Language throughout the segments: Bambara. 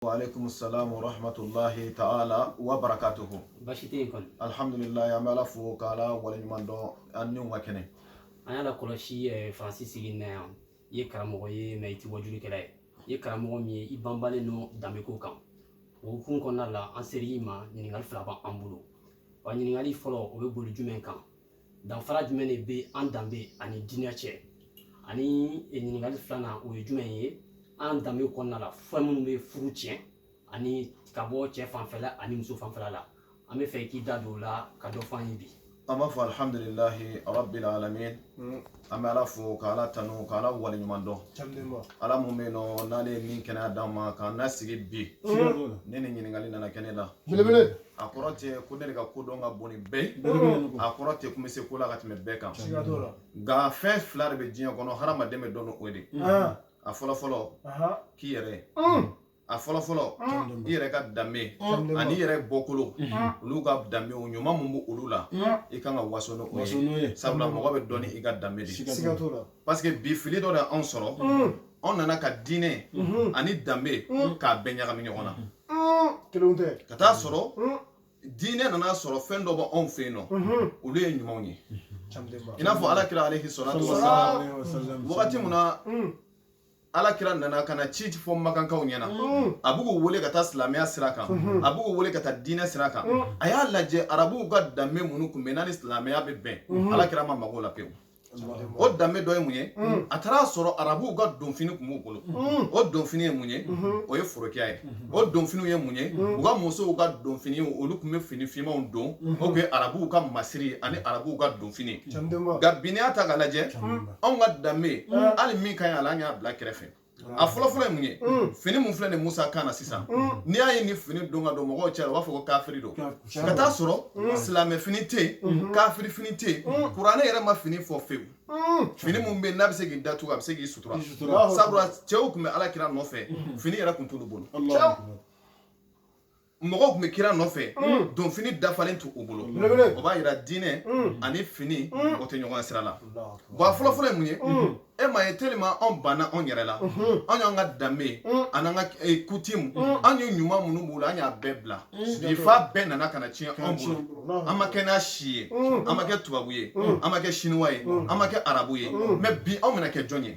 wa alaikum salam wa rahmatullahi ta'ala wa barakatuhu basi tɛ yen kɔni alhamdulilayi an bɛ ala fo k'ala waleɲuman dɔn an niw ka kɛnɛ an y'a lakɔlɔsi eh, faransi sigi na yan i ye karamɔgɔ ye mais i tɛ wajulikɛla ye i ye karamɔgɔ min ye i banbalen don danbeko kan o hukumu kɔnɔna la an ser'i ma ɲininkali fila b'an bolo wa ɲininkali fɔlɔ o bɛ boli jumɛn kan danfara jumɛn de bɛ an danbe ani diinɛ cɛ ani ɲininkali filanan o ye jumɛn ye an danbe kɔnɔna la fɛn minnu bɛ furu tiɲɛ ani ka bɔ cɛ fanfɛla ani muso fanfɛla la an b'a fɛ i k'i da don o la ka dɔ fɔ an ye bi an b'a fɔ alihamdulilahi rabbil alamin an bɛ ala fo ka ala tanu ka ala waleɲuman dɔn ala mun bɛ yen nɔ n'ale ye min kɛnɛya d'an ma k'an lasigi bi ne ni ɲininkali nana kɛ ne la a kɔrɔ tɛ ko ne de ka ko dɔn ka bon ni bɛɛ ye a kɔrɔ tɛ ko n bɛ se ko la ka tɛmɛ bɛɛ kan nka fɛn fila de bɛ diɲɛ kɔnɔ hadamaden bɛ dɔn ni o de a fɔlɔ fɔlɔ k'i yɛrɛ a fɔlɔ fɔlɔ i yɛrɛ ka danbe an'i yɛrɛ bɔkolo olu ka danbe o ɲuman min b'o olu la i kan ka waso n'o ye sabula mɔgɔ bɛ dɔn ni i ka danbe de ye parce que bi fili dɔ de y'anw sɔrɔ anw nana ka diinɛ ani danbe k'a bɛɛ ɲagami ɲɔgɔn na kelenw tɛ ka taa sɔrɔ diinɛ nana sɔrɔ fɛn dɔ bɛ anw fɛ yen nɔ olu ye ɲumanw ye i n'a fɔ ala kira alaihi salatu wa salam wagati min na ala kira nana ka na ci fɔ makankaw ɲɛna mm. a b'u wele ka taa silamɛya sira kan mm-hmm. a b'u wele ka taa diinɛ sira kan mm. a y'a lajɛ arabuw ka danbe minnu kun bɛ n'a ni silamɛya bɛ bɛn mm-hmm. ala kira ma maga o la pewu o danbe dɔ ye mun ye mm. a taara sɔrɔ arabuw ka donfini kun b'u bolo o donfini ye mun ye mm-hmm. o ye forokiya ye o donfiniw ye mun ye u ka musow ka donfini olu kun bɛ fini finmanw don o kun ye arabuw ka masiri ani arabuw ka donfini nka bi n'i y'a ta k'a lajɛ anw ka danbe hali min ka ɲi a la an y'a bila kɛrɛfɛ a fɔlɔfɔlɔ ye mun ye fini mun filɛ nin musa kan na sisan n'i y'a ye nin fini don ka don mɔgɔw cɛ u b'a fɔ ko kafiri don ka taa sɔrɔ silamɛ fini tɛ yen kafiri fini tɛ yen kuranɛ yɛrɛ ma fini fɔ fewu fini mun bɛ yen n'a bɛ se k'i datugu a bɛ se k'i sutura sabula cɛw tun bɛ ala kira nɔfɛ fini yɛrɛ tun t'olu bolo mɔgɔw tun bɛ kira nɔfɛ donfini dafalen t'u bolo o b'a yira diinɛ ani fini o tɛ ɲɔgɔn sira la bon a fɔlɔfɔlɔ ye mun ye e m'a ye tellement anw banna anw yɛrɛ la anw y'an ka danbe an'an ka coutume anw ye ɲuman minnu b'u la an y'a bɛɛ bila bi f'a bɛɛ nana ka na tiɲɛ anw bolo an ma kɛ n'a si ye an ma kɛ tubabu ye an ma kɛ chinois ye an ma kɛ arabu ye mais bi anw bɛna kɛ jɔn ye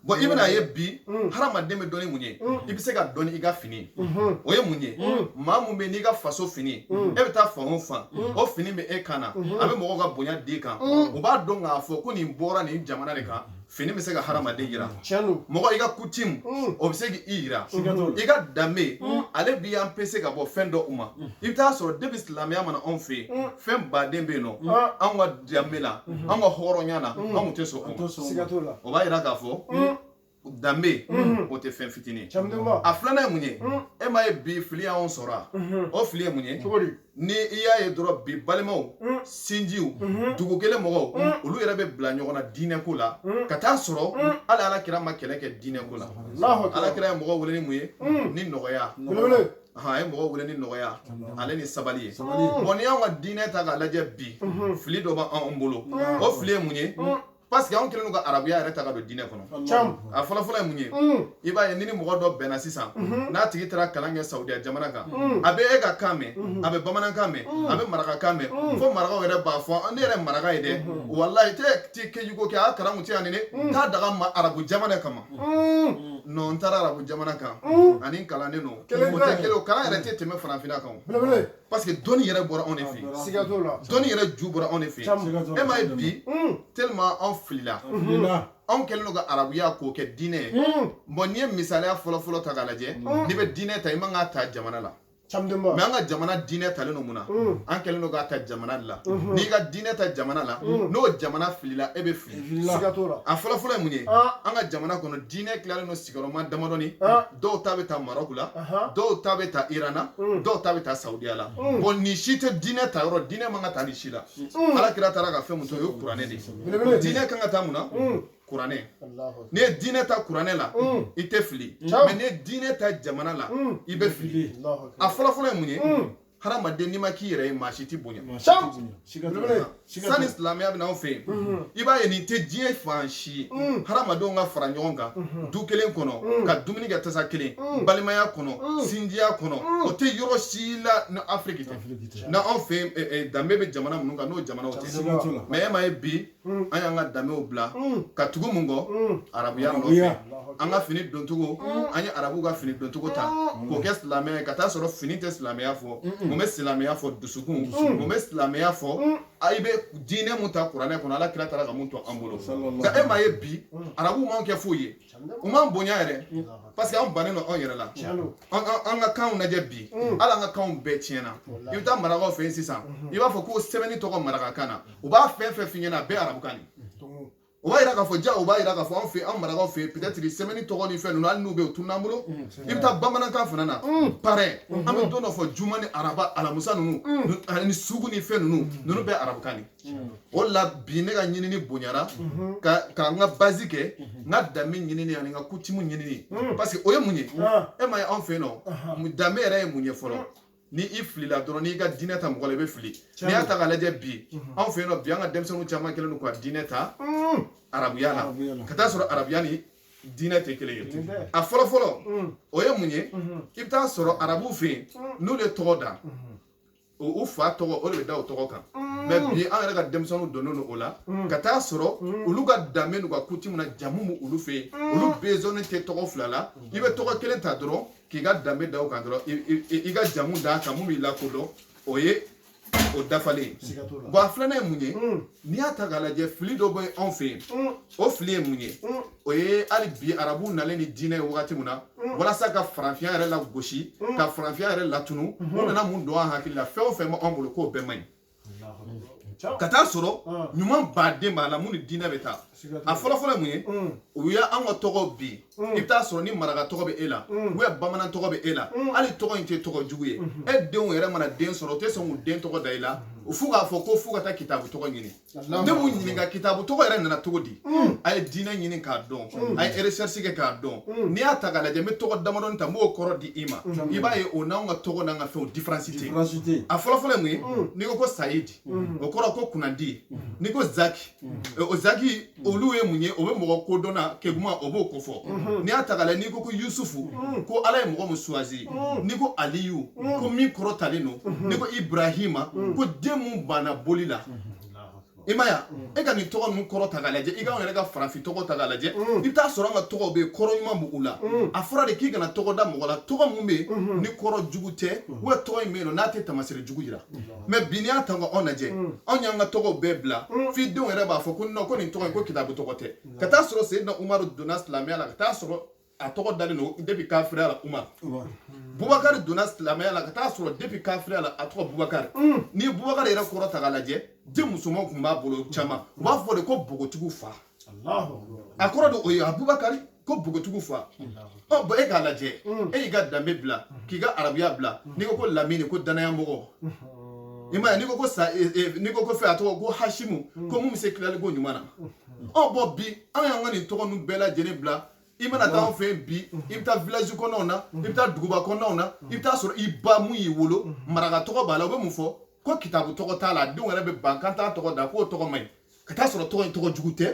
bon i bɛn'a ye bi mm. hadamaden bɛ dɔn ni mun ye mm. i bɛ se ka dɔn i ka fini mm-hmm. o ye mun ye mm. maa mun bɛ n'i ka faso fini e bɛ taa fan o fan o fini bɛ e kan na mm-hmm. a bɛ mɔgɔw ka bonya d'i kan u b'a dɔn k'a fɔ ko nin bɔra nin jamana de kan fini bɛ se ka hadamaden yira mɔgɔ i ka coutume o bɛ se k'i yira i ka danbe ale b'i empêcher ka bɔ fɛn dɔw ma i bɛ taa sɔrɔ depuis silamɛya ma na anw fɛ yen fɛnba de bɛ yen nɔ anw ka danbe la mhm. an ka hɔrɔnya na mhm. an tun tɛ sɔn o b'a yira k'a fɔ mhm. danbe o tɛ fɛn fitinin a filanan ye mun ye e m'a ye bi fili y'anw sɔrɔ a o fili ye mun ye ni i y'a ye dɔrɔn bi balimaw sinjiw dugu kelen mɔgɔw olu yɛrɛ bɛ bila ɲɔgɔn na diinɛ ko la ka taa sɔrɔ hali ala kira ma kɛlɛ kɛ diinɛ ko la ala kira ye mɔgɔ wele ni mun ye ni nɔgɔya a ye mɔgɔ wele ni nɔgɔya ale ni sabali ye bon n'i y'anw ka diinɛ ta k'a lajɛ bi fili dɔ b'an bolo o fili ye mun ye parce que anw kɛlen don ka arabuya yɛrɛ ta ka don diinɛ kɔnɔ a fɔlɔfɔlɔ ye mun ye i b'a ye ni ni mɔgɔ dɔ bɛ na sisan n'a tigi taara kalan kɛ saudiya jamana kan a bɛ e ka kan mɛn a bɛ bamanankan mɛn a bɛ marakakan mɛn fo marakaw yɛrɛ b'a fɔ ne yɛrɛ maraka ye dɛ walayi tɛ ti kejugu kɛ a karamɔgɔ tɛ yan ni ne t'a daga ma arabu jamana kama non n taara arabu jamana kan ani kalannen don kelen kelen kalan yɛrɛ tɛ tɛmɛ farafinna kan parce que dɔnni yɛrɛ bɔra anw de fɛ yen siga t'o la dɔnni yɛrɛ ju bɔra anw de fɛ yen e m'a ye bi tellement anw filila anw kɛlen don ka arabuya k'o kɛ diinɛ ye bon n'i ye misaliya fɔlɔfɔlɔ ta k'a lajɛ n'i bɛ diinɛ ta i man k'a ta jamana la mais an ka jamana diinɛ talen don mun na mm. an kɛlen don k'a ta jamana de la mm-hmm. n'i ka diinɛ ta jamana la mm. n'o jamana filila e bɛ fili a fɔlɔfɔlɔ ye mun ye ah. an ka jamana kɔnɔ diinɛ tilalen don sigiyɔrɔma damadɔni ah. dɔw ta bɛ ta marɔku la dɔw ta bɛ ta iran na mm. dɔw ta bɛ ta saudiya la bon nin si tɛ diinɛ ta yɔrɔ diinɛ man ka ta nin si la ala kira taara ka fɛn mun to o ye kuranɛ de ye diinɛ kan ka ta mun na kuranɛ n'i ye diinɛ ta kuranɛ la mm. i tɛ fili mm. mais n'i ye diinɛ ta jamana la mm. i bɛ fili a fɔlɔfɔlɔ ye mun ye hadamaden n'i ma k'i yɛrɛ ye maa si t'i bonya sani silamɛya bɛ na anw fɛ yen mm-hmm. i b'a ye nin tɛ diɲɛ fan si hadamadenw ka fara ɲɔgɔn kan mm-hmm. du kelen kɔnɔ ka dumuni kɛ tasa kelen balimaya kɔnɔ sinjiya kɔnɔ o tɛ yɔrɔ si la ni afiriki tɛ n'anw fɛ yen eh, eh, danbe bɛ jamana minnu kan n'o jamanaw tɛ mais e m'a ye bi Mm. an y'an ka danbew bila mm. ka tugu mun kɔ mm. arabuya nɔfɛ an ka fini doncogo an ye arabuw ka fini doncogo ta k'o kɛ silamɛya ye ka taa sɔrɔ fini tɛ silamɛya fɔ mun bɛ silamɛya fɔ dusukun mun bɛ silamɛya fɔ i bɛ diinɛ mun ta kuranɛ kɔnɔ ala kira taara ka mun to an bolo nka e m'a ye bi arabuw m'anw kɛ foyi ye u m'an bonya yɛrɛ parce que an bannen don anw yɛrɛ la an ka kanw lajɛ bi mm. hali an ka kanw bɛɛ tiɲɛna i bɛ taa marakaw fɛ yen sisan mm-hmm. i b'a fɔ ko sɛbɛnni tɔgɔ marakakan na u b'a fɛn fɛn f'i ɲɛna a bɛɛ arabukan de o b'a yira k'a fɔ ja o b'a yira k'a fɔ anw fɛ an marakaw fɛ peut-être sɛbɛnni tɔgɔ ni fɛn ninnu hali n'u bɛ yen u tunun'an bolo mm, i bɛ taa bamanankan fana na mm. pareil mm-hmm. an bɛ don dɔ fɔ juma ni araba alamusa ninnu mm. ani sugu ni fɛn ninnu ninnu bɛɛ arabukan de o la bi ne ka ɲinini bonyara ka n ka base kɛ n ka danbe ɲinini ani n ka kutimu ɲinini parce que o ye mun ye e ma ye anw fɛ yen nɔ danbe yɛrɛ ye mun ye fɔlɔ ni i filila dɔrɔn n'i ka diinɛ ta mɔgɔ la i bɛ fili n'i y'a ta k'a lajɛ bi anw fɛ yen nɔ bi an ka denmisɛnninw caman kɛlen don ka diinɛ ta arabuya la ka taa sɔrɔ arabuya ni diinɛ tɛ kelen ye a fɔlɔ fɔlɔ o ye mun ye i bɛ taa sɔrɔ arabuw fɛ yen n'u ye tɔgɔ da u fa tɔgɔ o de bɛ da o tɔgɔ kan mm. mais bi an yɛrɛ ka denmisɛnninw donnen don o la mm. ka taa sɔrɔ mm. olu ka danbe n'u ka kutimu na jamu bɛ olu fɛ yen olu besoin tɛ tɔgɔ fila la i bɛ tɔgɔ kelen ta dɔrɔn k'i ka danbe da o kan dɔrɔn i ka jamu d'a kan mun b'i lakodɔn o ye o dafalen ye bon a filanan ye mun ye n'i y'a ta k'a lajɛ fili dɔ bɛ anw fɛ yen o fili ye mun ye mm. o ye hali bi arabuw nalen ni diinɛ ye wagati min na mm. walasa ka farafinya yɛrɛ lagosi mm. ka farafinya yɛrɛ latunu u mm-hmm. nana mun don an hakili la fɛn o fɛn b'an bolo k'o bɛɛ man ɲi ka taa sɔrɔ ah. ɲumanba de b'a la mun ni diinɛ bɛ taa a fɔlɔfɔlɔ ye mun ye o y'an ka tɔgɔ bi i bɛ taa sɔrɔ ni maraka tɔgɔ bɛ e la ou bien bamanan tɔgɔ bɛ e la hali tɔgɔ in tɛ tɔgɔ jugu ye mm-hmm. e denw yɛrɛ mana den sɔrɔ u tɛ sɔn k'u den tɔgɔ da i la mm-hmm. fo k'a fɔ ko fo ka taa kitabu tɔgɔ ɲini ne b'u ɲininka kitabu tɔgɔ yɛrɛ nana cogo di mm. a ye diinɛ ɲini k'a dɔn mm. a ye recherche kɛ k'a dɔn mm. n'i y'a ta k'a lajɛ n bɛ tɔgɔ damadɔni ta n b'o kɔrɔ di i ma i b'a ye o n'anw ka tɔgɔ n'an ka fɛnw différence tɛ yen a fɔlɔfɔlɔ ye mun ye n'i ko ko sayidi o kɔrɔ ko kunnandi n'i ko zaki o zaki olu ye mun ye o bɛ mɔgɔ kodɔnna keguman o b'o kofɔ mm-hmm. n'i y'a ta k'a lajɛ n'i ko ko yusufu ko ala ye mɔgɔ min choisi n'i ko aliyu ko min kɔrɔtalen don mm-hmm. n'i ko ibrahima ko den mun banna boli la i ma ya e ka nin tɔgɔ ninnu kɔrɔ ta k'a lajɛ i k'anw yɛrɛ ka farafin tɔgɔ ta k'a lajɛ i bɛ taa sɔrɔ an ka tɔgɔw bɛ yen kɔrɔ ɲuman b'u la a fɔra de k'i kana tɔgɔ da mɔgɔ la tɔgɔ min bɛ yen ni kɔrɔ jugu tɛ wa tɔgɔ in bɛ yen n'a tɛ tamasere jugu yira mais bi n'i y'a ta ka anw lajɛ anw y'an ka tɔgɔw bɛɛ bila f'i denw yɛrɛ b'a fɔ ko non ko nin tɔgɔ in ko kitabu tɔgɔ tɛ ka taa sɔrɔ seyidina umaru donna silamɛya la ka taa sɔrɔ a tɔgɔ dalen don depuis kafiriya la umaru bubakari donna silamɛya la ka taa sɔrɔ depuis kafiriya la a tɔgɔ bubakari mm. ni bubakari yɛrɛ kɔrɔ ta k'a lajɛ den musomanw tun b'a bolo caman u b'a fɔ de ko bogotigiw fa a kɔrɔ de o ye abubakari ko bogotigiw fa ɔ bon e k'a lajɛ mm. e y'i ka danbe bila mm. k'i ka arabuya bila n'i ko ko lamini ko danaya mɔgɔ i ma ye n'i ko ko sa e, e, n'i ko ko fɛn a tɔgɔ ko hasimu ko mun bɛ se tilali ko ɲuman na ɔ bon bi an y'an ka nin tɔgɔ ninnu bɛɛ lajɛlen bila i mana taa anw fɛ yen bi i bɛ taa village kɔnɔnaw na i bɛ taa duguba kɔnɔnaw na i bɛ taa sɔrɔ i ba mun y'i wolo maraka tɔgɔ b'a la u bɛ mun fɔ ko kitabu tɔgɔ t'a la a denw yɛrɛ bɛ ban k'an t'a tɔgɔ da k'o tɔgɔ man ɲi ka t'a sɔrɔ tɔgɔ in tɔgɔ jugu tɛ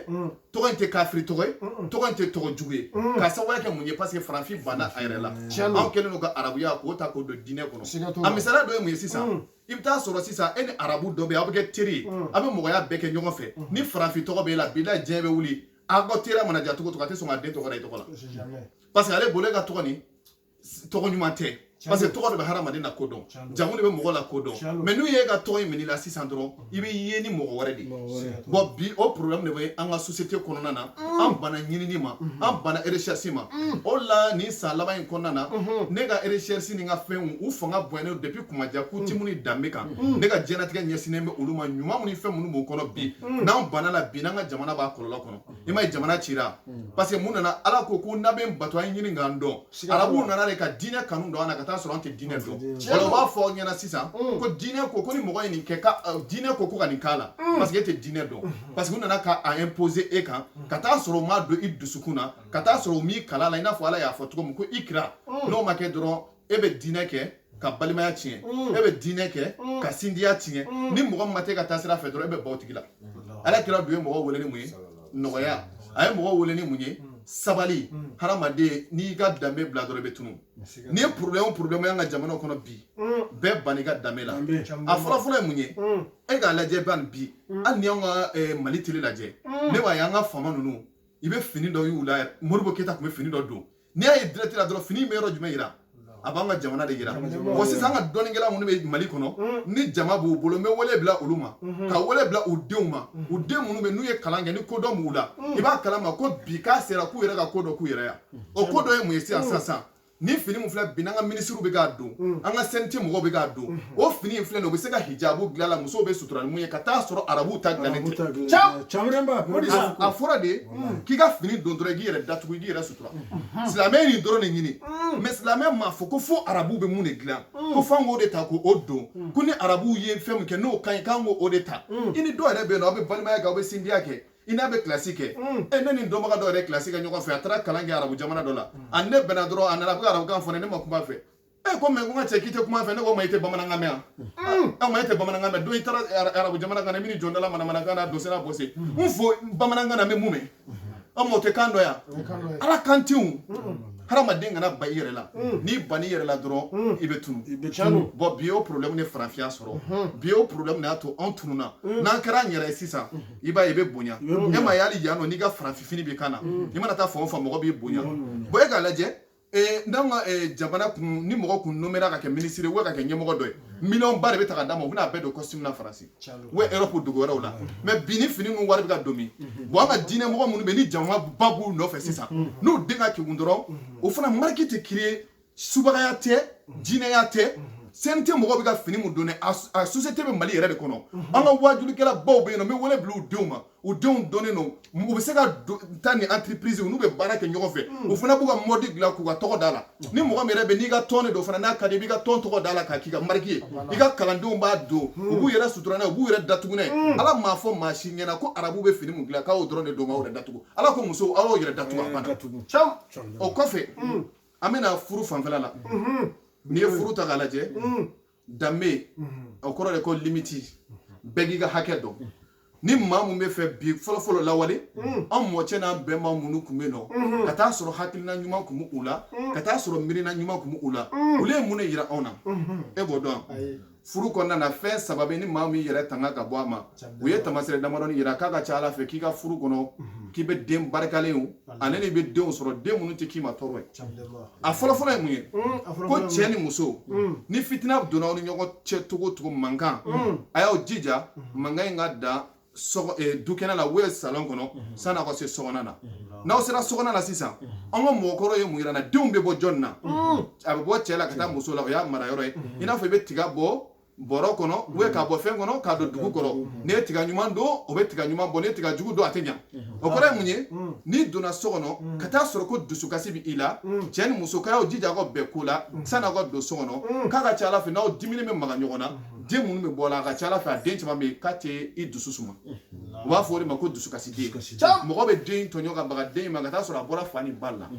tɔgɔ in tɛ kafiri tɔgɔ ye tɔgɔ in tɛ tɔgɔ jugu ye k'a sababuya kɛ mun ye parce que farafin banna a yɛrɛ la anw kɛlen don ka arabuya k'o ta k'o don diinɛ kɔnɔ a misaliya dɔ ye mun ye sisan i bɛ taa sɔrɔ sisan e ni arabu dɔ bɛ yen aw bɛ kɛ teri ye aw bɛ mɔgɔya bɛɛ kɛ ɲɔgɔn fɛ ni farafin tɔgɔ b'e la bilahi diɲɛ bɛ wuli a ka teriya mana ja cogo o cogo a tɛ sɔn ka den tɔgɔ da i tɔgɔ la parce que ale bolo e ka tɔgɔ nin tɔgɔ ɲuman tɛ parce que tɔgɔ de bɛ hadamaden lakodɔn jamu de bɛ mɔgɔ lakodɔn mais n'u ye e ka tɔgɔ in minɛ i la sisan dɔrɔn i bɛ ye ni mɔgɔ wɛrɛ de bon bi o problème de bɛ an ka société kɔnɔna na an banna ɲinini ma an banna recherche ma o la nin san laban in kɔnɔna na ne ka recherche ni n ka fɛnw u fanga bonyana depuis kumaja coutume ni danbe kan ne ka diɲɛnatigɛ ɲɛsinnen bɛ olu ma ɲuman ni fɛn minnu b'o kɔnɔ bi n'an banna a la bi n'an ka jamana b'a kɔlɔlɔ kɔnɔ i m'a ye jamana cira parce que mun nana ala ko ko n'a bɛ n bato a ye n ɲini ka n dɔn arabuw nana de ka diinɛ kanu don an na ka taa sɔrɔ an tɛ diinɛ dɔn wala u b'a fɔ aw ɲɛna sisan ko diinɛ ko ko ni mɔgɔ ye nin kɛ ko diinɛ ko ko ka nin k'a la parce que e tɛ diinɛ dɔn parce que u nana ka a imposer e kan ka taa sɔrɔ u m'a don i dusukun na ka taa sɔrɔ u m'i kalan a la i n'a fɔ ala y'a fɔ cogo min ko ikira n'o ma kɛ dɔrɔn e bɛ diinɛ kɛ ka balimaya tiɲɛ e bɛ diinɛ kɛ ka sindiya tiɲɛ ni mɔgɔ min ma t'e ka taasira fɛ dɔrɔn e bɛ ban o tigi la ala kira dun ye mɔgɔ wele ni mun ye nɔgɔya a ye mɔgɔ wele ni mun ye sabali hadamaden n'i y'i ka danbe bila dɔrɔn i bɛ tunu n'i ye problème o problème y'an ka jamana kɔnɔ bi bɛɛ bann'i ka danbe la a fɔlɔ fɔlɔ ye mun ye e k'a lajɛ ban bi hali n'i y'anw ka mali tele lajɛ ne b'a ye an ka faama ninnu i bɛ fini dɔ y'u la modibo keyita tun bɛ fini dɔ don n'i y'a ye direct la dɔrɔn fini in bɛ yɔrɔ jumɛn yira a b'an ka jamana de yira wa sisan an ka dɔnnikɛla minnu bɛ mali kɔnɔ ni jama b'u bolo n bɛ wele bila olu ma ka wele bila u denw ma u den minnu bɛ n'u ye kalan kɛ ni kodɔn b'u la i b'a kalama ko bi k'a sera k'u yɛrɛ ka ko dɔ k'u yɛrɛ ye o ko dɔ ye mun ye sisan sisan sisan ni fini min filɛ bi n'an ka minisiriw bɛ k'a don an ka cnt mɔgɔw bɛ k'a don o fini in filɛ nin u bɛ se ka hijabu dilan a la musow bɛ sutura ni mun ye ka taa sɔrɔ arabuw ta dilannen tɛ a fɔra de k'i ka fini don dɔrɔn k'i yɛrɛ datugu i k'i yɛrɛ sutura silamɛ ye nin dɔrɔn de ɲini mais silamɛ m'a fɔ ko fo arabuw bɛ mun de dilan ko f'an k'o de ta k'o don ko ni arabuw ye fɛn min kɛ n'o ka ɲi k'an k'o de ta i ni dɔw yɛrɛ bɛ yen n'aw bɛ balimaya kɛ aw bɛ sindiya kɛ i n'a bɛ kilasi kɛ e ne ni dɔnbaga dɔ yɛrɛ kilasi kɛ ɲɔgɔn fɛ a taara kalan kɛ arabu jamana dɔ la a ni ne bɛnna dɔrɔn a nana ka arabukan fɔ ne ma kuma a fɛ e ko mɛ ko n ka cɛ k'i tɛ kuma fɛ ne ko ma i tɛ bamanankan mɛn yan aw ma e tɛ bamanankan mɛn don i taara arabu jamana kan na min jɔn dala manamanakan na dosera bose n fɔ bamanankan na n bɛ mun mɛn aw ma o tɛ kan dɔ yan ala kan tɛ hadamaden kana ban i yɛrɛ la n'i ban'i yɛrɛ la dɔrɔn i bɛ tunun bon bi o problème ni farafinya sɔrɔ bi o problème de y'a to anw tununa n'an kɛra an yɛrɛ ye sisan i b'a ye i bɛ bonya e ma ye hali yan nɔ n'i ka farafinfini b'i kan na i mana taa fan o fan mɔgɔ b'i bonya bon e k'a lajɛ ee n'an ka ee, jamana kun ni mɔgɔ kun nomera ka kɛ minisiri ye ka kɛ ɲɛmɔgɔ dɔ ye miliyɔn ba de bɛ ta ka d'a ma u bɛna a bɛɛ don kɔsitimu na faransi ou erɔpu dugu wɛrɛw la mɛ bi ni fini ninnu wari bɛ ka don min bon an ka diinɛ mɔgɔ minnu bɛ ni jama ba b'u nɔfɛ sisan n'u den ka kegun dɔrɔn o fana mariki tɛ kiriye subagaya tɛ diinɛya tɛ CNT mɔgɔw bɛ ka fini mun don dɛ a société bɛ Mali yɛrɛ de kɔnɔ an ka waajulikɛla baw bɛ yen nɔ n bɛ wele bila u denw ma u denw dɔnnen don u bɛ se ka taa ni entreprise n'u bɛ baara kɛ ɲɔgɔn fɛ hmm. u fana b'u ka mɔdi dilan k'u ka tɔgɔ d'a la hmm. ni mɔgɔ min yɛrɛ bɛ n'i ka tɔn de don fana n'a ka di i b'i ka tɔn tɔgɔ d'a la k'a k'i ka mariki ye ah, i ka kalandenw b'a don hmm. u b'u yɛrɛ sutura n'a ye u b'u yɛrɛ datugu n'a ye ala m'a fɔ maa si ɲɛna ko arabu bɛ fini mun dilan k'aw dɔrɔn de don k'aw yɛrɛ datugu ala ko musow aw y'aw yɛrɛ datugu a banna cam o kɔfɛ an bɛna furu fanfɛla la n'i ye furu ta k'a lajɛ danbe o kɔrɔ de ko limiti bɛɛ k'i ka hakɛ dɔn ni maa mun bɛ fɛ bi fɔlɔfɔlɔ lawale an mɔcɛ n'an bɛnba minnu tun bɛ nɔ ka taa sɔrɔ hakilina ɲuman tun bɛ u la ka taa sɔrɔ miirina ɲuman tun bɛ u la olu ye mun de yira anw na e b'o dɔn furu kɔnɔna na fɛn saba bɛ ni maa min yɛrɛ tanga ka bɔ a ma u ye tamasere damadɔni yira k'a ka ca ala fɛ k'i ka furu kɔnɔ mhm. k'i bɛ den barikalen o ani i bɛ denw sɔrɔ den minnu tɛ k'i ma tɔɔrɔ ye a fɔlɔfɔlɔ ye mun ye mm, ko cɛ ni muso mm. ni fitina donna aw ni ɲɔgɔn cɛ cogo o cogo mankan mm. a y'aw jija mhm. mankan in ka dan eh, dukɛnɛ la wala salon kɔnɔ mhm. sani aw ka se so kɔnɔna na n'aw sera so kɔnɔna la sisan an ka mɔgɔkɔrɔ ye mun yira an na denw bɛ bɔ jɔnni na a bɛ bɔ cɛ la ka taa muso la o y'a mara yɔrɔ ye i n'a fɔ i bɛ tiga bɔ bɔrɔ kɔnɔ ou k'a bɔ fɛn kɔnɔ k'a don dugu kɔrɔ n'i ye tiga ɲuman don o bɛ tiga ɲuman bɔ n'i ye tiga jugu don a tɛ ɲa o kɔrɔ ye mun ye n'i donna so kɔnɔ ka taa sɔrɔ ko dusukasi bɛ i la cɛ ni muso k'a y'aw jija aw ka bɛn ko la sanni aw ka don so kɔnɔ k'a ka ca ala fɛ n'aw diminen bɛ maga ɲɔgɔn na den minnu bɛ bɔ a la a ka ca ala fɛ a den caman bɛ yen k'a tɛ i dusu suma u b'a fɔ o de ma ko dusukasi den mɔgɔ bɛ den tɔɲɔ ka baga den ma ka taa sɔrɔ a bɔra fa ni ba la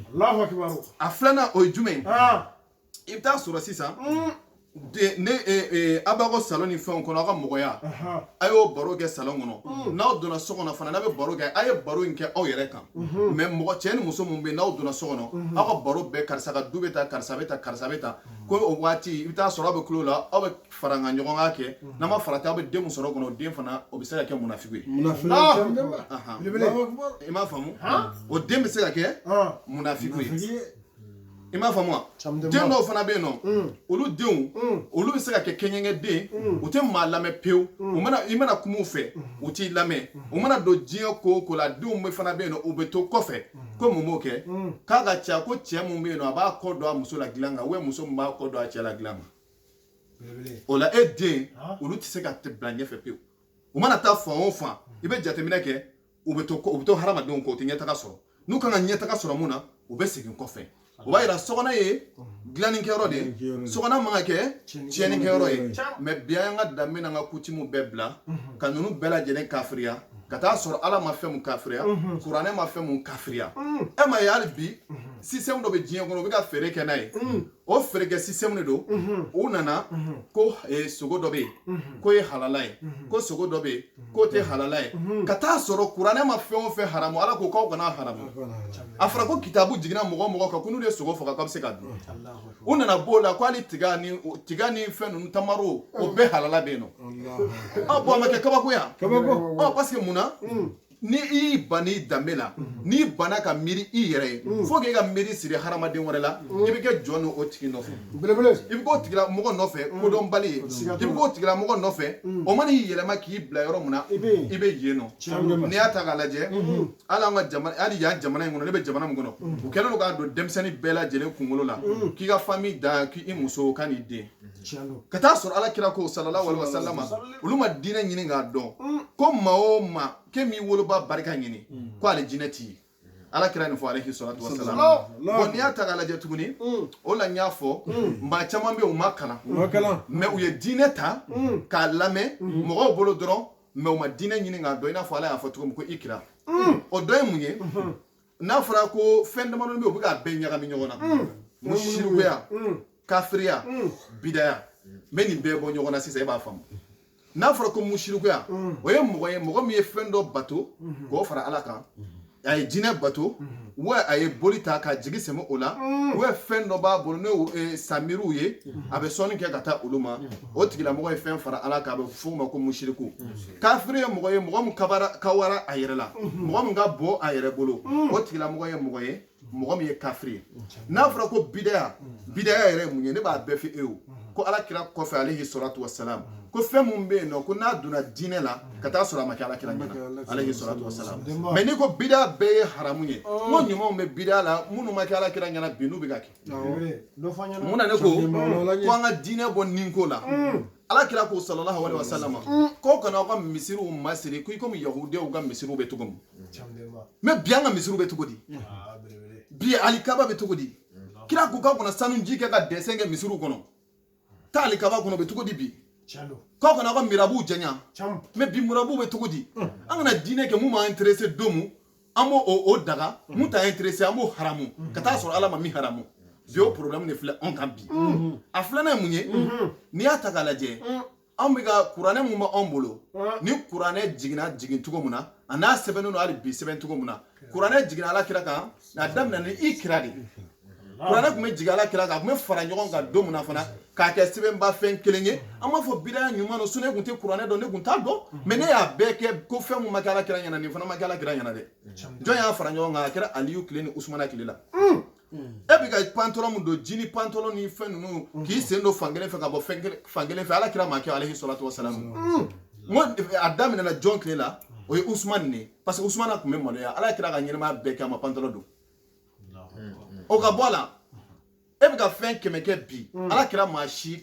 a filanan o ye jumɛn ye i bɛ taa sɔrɔ sisan n'aw b'aw ka salon ni fɛnw kɔnɔ aw ka mɔgɔya a y'o baro kɛ salon kɔnɔ n'aw donna so kɔnɔ fana n'a bɛ baro kɛ aw ye baro in kɛ aw yɛrɛ kan mɛ mɔgɔ cɛ ni muso min bɛ yen n'aw donna so kɔnɔ aw ka baro bɛɛ karisa ka du bɛ tan karisa bɛ tan karisa bɛ tan ko o waati i bɛ taa sɔrɔ aw bɛ tulo la aw bɛ faraɲɔgɔnkan kɛ n'a ma farati aw bɛ den mun sɔrɔ kɔnɔ o den fana o bɛ se ka kɛ munafiki ye i m'a faamu o den bɛ se ka kɛ munafiki ye i m'a faamu wa den dɔw fana bɛ yen nɔ mm. olu denw mm. olu bɛ se ka kɛ kɛɲɛkɛ den mm. u tɛ maa lamɛn pewu u mana i mana kuma u fɛ u t'i lamɛn u mana don diɲɛ ko o ko la denw bɛ fana bɛ yen nɔ u bɛ to kɔfɛ ko mun b'o kɛ k'a ka ca ko cɛ mun bɛ yen nɔ a b'a kɔ don a muso la dilan kan ubiyɛn muso mun b'a kɔ don a cɛ la dilan kan o la e den olu tɛ se ka bila ɲɛfɛ pewu u mana taa fan o fan i bɛ jateminɛ kɛ u bɛ to u bɛ to hadamadenw kɔ u tɛ ɲɛtaga sɔrɔ n'u kan ka ɲɛtaga sɔrɔ mun na u bɛ segin kɔfɛ o b'a yira sokɔnɔ ye dilannikɛyɔrɔ de ye sokɔnɔ man ka kɛ tiɲɛnikɛyɔrɔ ye mɛ bi an ka danbe n'an ka kutimu bɛɛ bila ka ninnu bɛɛ lajɛlen kafiriya ka taa sɔrɔ ala ma fɛn mun kafiriya kuranɛ ma fɛn mun kafiriya e ma ye hali bi sisitɛmu dɔ bɛ diɲɛ kɔnɔ u bɛ ka feere kɛ n'a ye o feerekɛ sisitɛmu de don u nana ko eh, sogo dɔ bɛ yen k'o ye halala ye ko sogo dɔ bɛ yen k'o tɛ halala ye ka taa sɔrɔ kuranɛ ma fɛn o fɛn haramu ala ko k'aw kana haramu a fɔra ko kitabu jiginna mɔgɔ o mɔgɔ kan ko n'u ye sogo faga k'a bɛ se ka dun u nana b'o la ko hali tiga ni tiga ni fɛn ninnu tamaro o bɛɛ halala bɛ yen nɔ ɔ bɔn a ma kɛ kabakoya ɔ parce que mun na ni i y'i ban i danbe la n'i banna ka miiri i yɛrɛ ye fo k'i ka miiri siri hadamaden wɛrɛ la i bɛ kɛ jɔn n'o tigi nɔfɛ belebele i bɛ k'o tigilamɔgɔ nɔfɛ kodɔnbali ye Siga t'o la. i bɛ k'o tigilamɔgɔ nɔfɛ o mana i yɛlɛma k'i bila yɔrɔ min na i bɛ yen. i bɛ yen nɔ Tiɲɛ don. n'i y'a ta k'a lajɛ hali an ka jamana hali yan jamana in kɔnɔ ne bɛ jamana min kɔnɔ u kɛlen don k'a don denmisɛnnin bɛɛ lajɛlen kunkolo la k'i ka fami da k'i muso ka n'i den ka taa sɔrɔ ala kira ko salalahu alayihi wasalama olu ma diinɛ ɲini k'a dɔn mm. ko maa o maa k'e m'i woloba barika ɲini mm. ko alijinɛ t'i ye ala kira nin fɔ alayihi salatu wasalam bɔn n'i y'a ta k'a lajɛ tuguni mm. o la n y'a fɔ maa caman bɛ u ma kalan mɛ u ye diinɛ ta k'a lamɛn mɔgɔw bolo dɔrɔn mɛ u ma diinɛ ɲini k'a dɔn i n'a fɔ ala y'a fɔ cogo min ko ikira o dɔ ye mun ye n'a fɔra ko fɛn damadɔ bɛ yen u bɛ k'a bɛɛ ɲagami ɲɔgɔn na ko sirikuya kafiriya bidaya n bɛ nin bɛɛ bɔ ɲɔgɔn na sisan e b'a faamu n'a fɔra ko musirikuya o ye mɔgɔ ye mɔgɔ min ye fɛn dɔ bato k'o fara ala kan a ye jinɛ bato wa a ye boli ta k'a jigi sɛmɛ o la wa fɛn dɔ b'a bolo n'o ye samiriw ye a bɛ sɔnni kɛ ka taa olu ma o tigilamɔgɔ ye fɛn fara ala kan a bɛ f'o ma ko musiriku kafiri ye mɔgɔ ye mɔgɔ min kabara kawara a yɛrɛ la mɔgɔ min ka bon a yɛrɛ bolo o tigilamɔgɔ ye mɔgɔ ye mɔgɔ min ye kafiri ye n'a fɔra ko bidaya bidaya yɛrɛ ye mun ye ne b'a bɛɛ fɔ e ye ko ala kira kɔfɛ alayihi salatu wasalam ko fɛn min bɛ yen nɔ ko n'a donna diinɛ la ka taa sɔrɔ a ma kɛ ala kira ɲɛna alayihi salatu wasalam mɛ n'i ko bidaya bɛɛ ye haramu ye oh. n ko ɲumanw bɛ bidaya la minnu ma kɛ ala kira ɲɛna bi n'u bɛ ka kɛ mun na ne ko ko an ka diinɛ bɔ nin ko la mm. ala kira ko sallallahu alayhi wasallam ko kana aw ka misiriw masiri ko i komi yahudiyaw ka misiriw bɛ cogo min mais bi an ka misiriw bɛ cogo di bi alikaba bɛ cogo di kira ko k'aw kana sanu ji kɛ ka dessin kɛ misiriw kɔnɔ taa alikaba kɔnɔ bɛ cogo di bi k'aw kana aw ka mirabuw janya mais bi mirabuw bɛ cogo di an kana diinɛ kɛ mun b'an intéressé don mun an b'o o daga mun t'an intéressé an b'o haramu ka taa sɔrɔ ala ma min haramu bi o problème de filɛ anw kan bi a filanan ye mun ye n'i y'a ta k'a lajɛ anw bɛ ka kuranɛ mun bɛ anw bolo ni kuranɛ jiginna jigin cogo min na a n'a sɛbɛnnen don hali bi sɛbɛn cogo min na kuranɛ jiginna ala kira kan a daminɛ ni ikira de kuranɛ tun bɛ jigin ala kira kan a tun bɛ fara ɲɔgɔn kan don min na fana k'a kɛ sɛbɛnba fɛn kelen ye an b'a fɔ bidaya ɲuman don so ne tun tɛ kuranɛ dɔn ne tun t'a dɔn mais ne y'a bɛɛ kɛ ko fɛn min ma kɛ ala kira ɲɛna nin fana ma kɛ ala kira ɲɛna dɛ jɔn y'a fara ɲɔgɔn kan a kɛra aliyu tile ni usumana tile la hmm. e bɛ ka pantalon min don jini pantalon ni fɛn ninnu hmm. k'i sen don fankelen fɛ ka bɔ fankelen fɛ ala kira m'a kɛ alayhi salatu wasalam hmm. n ko a daminɛna jɔn tile la o ye usumana de ye parce que usumana tun bɛ maloya ala kira ka ɲɛnɛmaya bɛɛ kɛ a ma pantalon don o ka bɔ a la e bɛ ka fɛn kɛmɛ kɛ bi ala kira m'a si kɛ